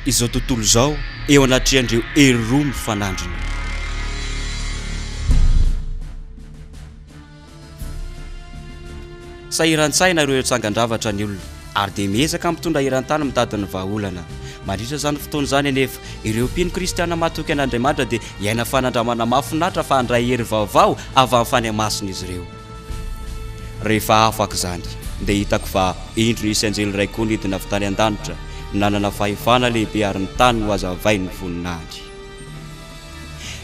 izao tontolo izao eo anatrehan'ireo hery roa mifanandrina. Sahiran-tsaina ireo tsangan-javatra ny olona ary dia miezaka mitondra eran-tany mitady ny vahaolana. Mandritra izany fotoana izany anefa, ireo mpino kristiana matoky an'Andriamanitra dia hiaina fanandramana mahafinaritra fa handray hery vaovao avy amin'ny fanahy masina izy ireo. Rehefa afaka izany, dia hitako fa indro nisy anjely iray koa nidina avy tany an-danitra, nanana fahefana lehibe ary ny tany nohazavain'ny voninahiny.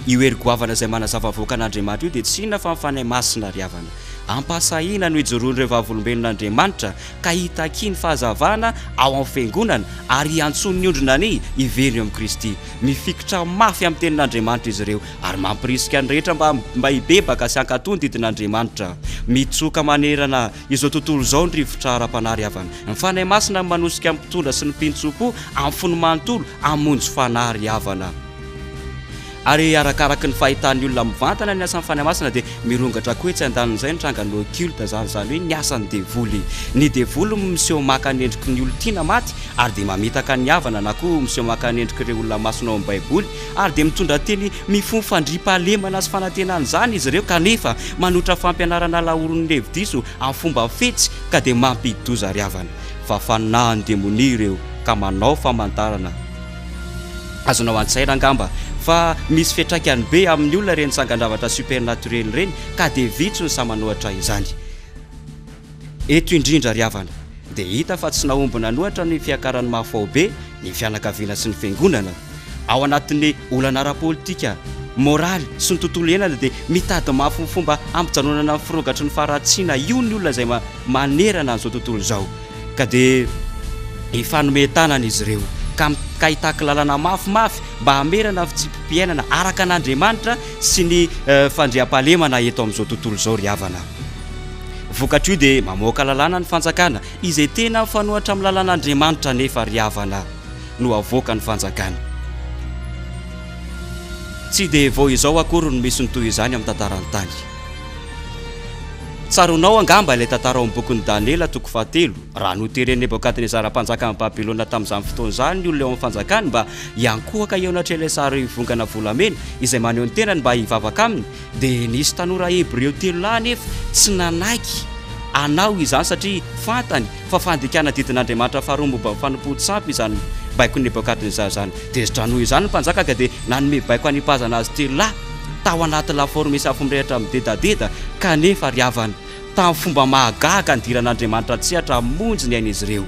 Io hery goavana izay manazava avoaka an'Andriamanitra io dia tsy inona fa ny Fanahy Masina ry havana. Ampahasahiana no ijoroan'ireo vavolombelona Andriamanitra ka hitakia ny fahazavana ao amin'ny Fiangonana ary hiantsoany ny ondriny anie hiverina eo amin'i Kristy. Mifikitra mafy amin'ny Tenin'Andriamanitra izy ireo Ary mampirisika ny rehetra mba mba hibebaka sy hankatò ny didin'Andriamanitra. Mitsoka manerana izao tontolo izao ny rivotra ara-panahy ry havana. Ny Fanahy Masina no manosika ny mpitondra sy ny mpintsompo amin'ny fony manontolo hamonjy fanahy ry havana. Ary arakaraky ny fahitan'ny olona mivantana ny asan'ny Fanahy Masina dia mirongatra koa etsy andanin'izay ny trangan'ny occulte izany, izany hoe ny asan'ny devoly. Ny devoly no miseho maka ny endriky ny olon-tiana maty ary dia mamitaka ny havana na koa miseho maka ny endrik'ireo olona masina ao amin'ny Baiboly, ary dia mitondra teny mifono fandriampahalemana sy fanantenana izany izy ireo kanefa manotra fampianarana laoron'ny hevi-diso amin'ny fomba fetsy ka dia mampidi-doza ry havana fa fanahin'ny demonia ireo ka manao famantarana azonao an-tsaina angamba fa misy fiantraikany be amin'ny olona ireny sangan-javatra supernaturel ireny ka dia vitsy ny sahy manohatra izany. Eto indrindra ry havana dia hita fa tsy nahomby nanohatra ny fiakaran'ny mahafaobe ny fianakaviana sy ny fiangonana. Ao anatin'ny olana ara-politika, moraly sy ny tontolo iainana dia mitady mafy ny fomba hampijanonana ny firogatry ny faharatsiana io ny olona izay manerana an'izao tontolo izao ka dia hifanome tanana izy ireo ka hitaky lalana mafimafy mba hamerana fitsipi-piainana araka an'Andriamanitra sy ny fandriampahalemana eto amin'izao tontolo izao ry havana. Vokatr'io dia mamoaka lalàna ny fanjakana izay tena mifanohatra amin'ny lalàn'Andriamanitra nefa ry havana no avoaka ny fanjakana. Tsy dia vao izao akory no misy ny toy izany amin'ny tantaran'ny tany. Tsaroanao angamba ilay tantara ao amin'ny bokin'i Daniela toko fahatelo, raha noteren'i Nebokadnezara mpanjakan'i Babylona tamin'izany fotoana izany ny olona eo amin'ny fanjakany mba hiankohoka eo anatrehan'ilay sarivongana volamena izay maneho ny tenany mba hivavaka aminy, Dia nisy tanora hebreo telo lahy anefa tsy nanaiky hanao izany, satria fantany fa fandikana didin'Andriamanitra faharoa momba ny fanompoan tsy ampy izany baikon'i Nebokadnezara izany. Tezitra noho izany ny mpanjaka ka dia nanome baiko hanipazana azy telo lahy tao anaty lafaoro misy afo mirehitra midedadeda, kanefa ry havana, tamin'ny fomba mahagaga nidiran'Andriamanitra an-tsehatra hamonjy ny ain'izy ireo.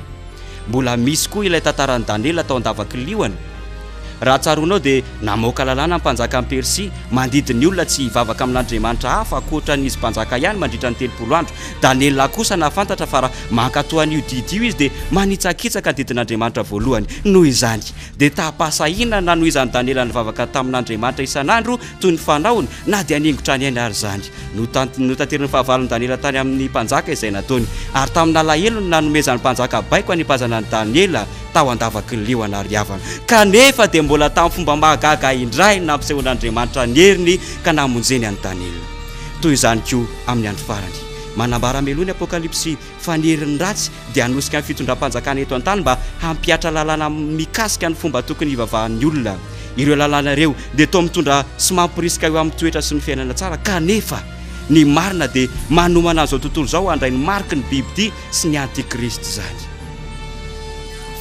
Mbola misy koa ilay tantaran'i Daniela tao an-davakiliony. Raha tsaroanao dia namoaka lalàna ny mpanjakan'i Persia mandidy ny olona tsy hivavaka amin'andriamanitra hafa ankoatra an'izy mpanjaka ihany mandritra ny telopolo andro. Daniela kosa nahafantatra fa raha mankatò an'io didy io izy dia manitsakitsaka ny didin'Andriamanitra voalohany. Noho izany, dia taham-pahasahiana nanohizan'i Daniela nivavaka tamin'Andriamanitra isan'andro toy ny fanaony, na dia haningo trano ihany àry izany. Notanteriny fahavalon'i Daniela tany amin'ny mpanjaka izay nataony, ary tamin'n'alahelony nanomezan'ny mpanjaka baiko hanipazana an'i Daniela tao an-davaky ny liona ary havana. Kanefa dia mbola tamin'ny fomba mahagaga indray no nampisehoan'Andriamanitra ny heriny ka namonjeny an'i Daniela. Toy izany koa amin'ny andro farany. Manambara meloha ny Apokalypsy. fa ny herin'ny ratsy dia hanosika ny fitondram-panjakana eto an-tany mba hampihatra lalàna mikasika ny fomba tokony hivavahan'ny olona. Ireo lalàna ireo dia toa mitondra sy mamporisika eo amin'ny toetra sy ny fiainana tsara kanefa ny marina dia manomana an'izao tontolo izao handray ny mariky ny bibidia sy ny antikristy izany.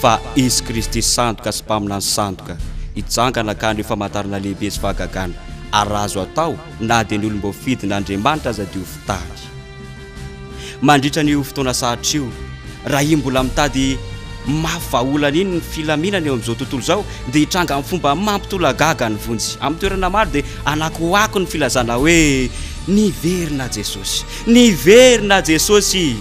Fa Izy Kristy sandoka sy Mpaminany sandoka hijangana ka haneho famantarana lehibe sy fahagagana ary raha azo atao na dia ny olom-boafidin' Andriamanitra aza diovy tany. Mandritra an'io fotoana sarotra io, raha iny mbola mitady mafy vahaolana iny ny filaminana eo amin'izao tontolo izao, dia hitranga amin'ny fomba mampitolagaga ny vonjy. Amin'ny toerana maro dia anakoako ny filazana hoe, Niverina Jesosy! Niverina Jesosy!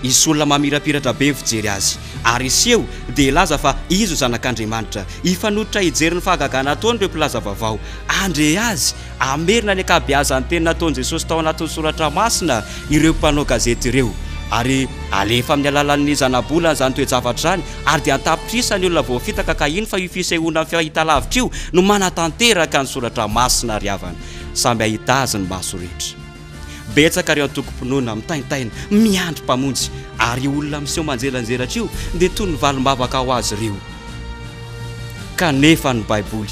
Hisy olona mamirapiratra be mifijery azy, ary hiseho dia hilaza fa izy no Zanak'Andriamanitra. Hifanototra hijery ny fahagagana ataon'ireo mpilaza vaovao handre azy Hamerina ny ankabeazan'ny teny nataon'i Jesosy tao anatin'ny soratra masina ireo mpanao gazety ireo, ary halefa amin'ny alalan'ny zanabolana izany toe-javatra izany, ary dia an-tapitrisany ny olona voafitaka, ka hino fa io fisehoana amin'ny fahitalavitra io no manatanteraka ny soratra masina ry havana, samy hahita azy ny maso rehetra. Betsaka ireo antokom-pinoana mitaintaina miandry Mpamonjy, ary io olona miseho manjelanjelatra io dia toy ny valim-bavaka ho azy ireo. Kanefa ny Baiboly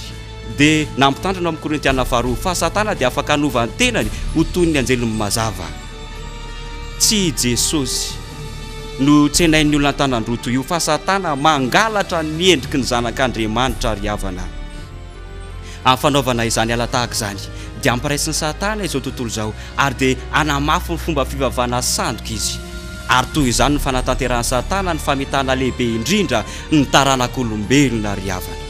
dia nampitandrina ao amin'ny Korintiana Faharoa fa Satana dia afaka hanova ny tenany ho toy ny anjeliny mazava. Tsy i Jesosy no tsenain'ny olona an-tanan-droa toy io, fa Satana mangalatra ny endriky ny Zanak'Andriamanitra ry havana. Amin'ny fanaovana izany ala tahaka izany dia ampiraisin'i Satana izao tontolo izao ary dia hanamafy ny fomba fivavahana sandoka izy. Ary toy izany no fanatanterahan'i Satana ny famitana lehibe indrindra ny taranak'olombelona ry havana.